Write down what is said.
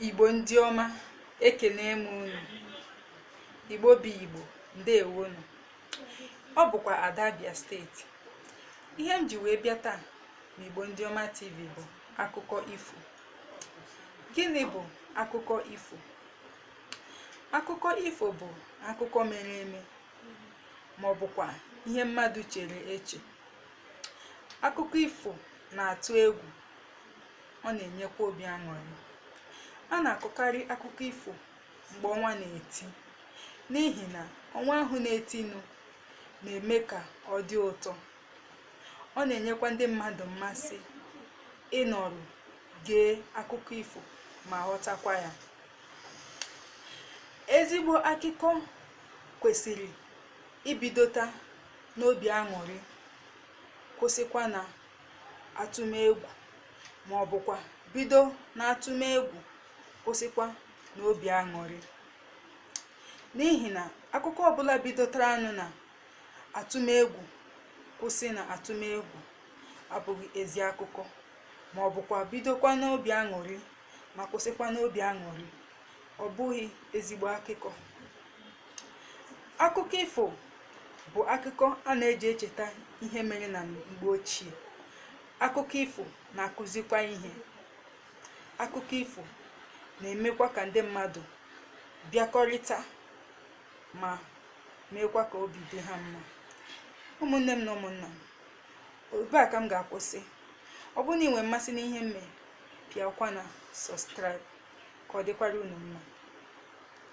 igbo ndị ọma ekene m unu igbo bụ igbo ndeewonụ ọ bụkwa ada abia steeti ihe m ji wee bịa taa na igbo ndị ọma tv bụ akụkọ ifo gịnị bụ akụkọ ifo akụkọ ifo bụ akụkọ mere eme ma ọ bụkwa ihe mmadụ chere eche akụkọ ifo na-atụ egwu ọ na-enyekwa obi aṅụrị a na-akọkarị akụkọ ifo mgbe ọnwa na-eti n'ihi na ọnwa ahụ na-etinụ na-eme ka ọ dị ụtọ ọ na-enyekwa ndị mmadụ mmasị ịnọrọ gee akụkọ ifo ma ghọtakwa ya ezigbo akụkọ kwesịrị ibidota n'obi aṅụrị kwụsịkwa na atụmegwu ma ọ bụkwa bido n'atụmegwu kwụsịkwa n'obi aṅụrị n'ihi na akụkọ ọbụla bidotaranụ na atụmegwu kwụsị na atụmegwu abụghị ezi akụkọ ma ọ bụkwa bidokwa n'obi aṅụrị ma kwụsịkwa n'obi aṅụrị ọ bụghị ezigbo akụkọ akụkọ ifo bụ akụkọ a na-eji echeta ihe mere na mgbe ochie akụkọ ifo na-akụzikwa ihe akụkọ ifo na-emekwa ka ndị mmadụ bịakọrịta ma meekwa ka obi dị ha mma ụmụnne m na ụmụnna m ebe a ka m ga-akwụsị ọ bụrụ na ị nwere mmasị n'ihe m mee pịakwa na subscribe ka ọ dịkwara unu mma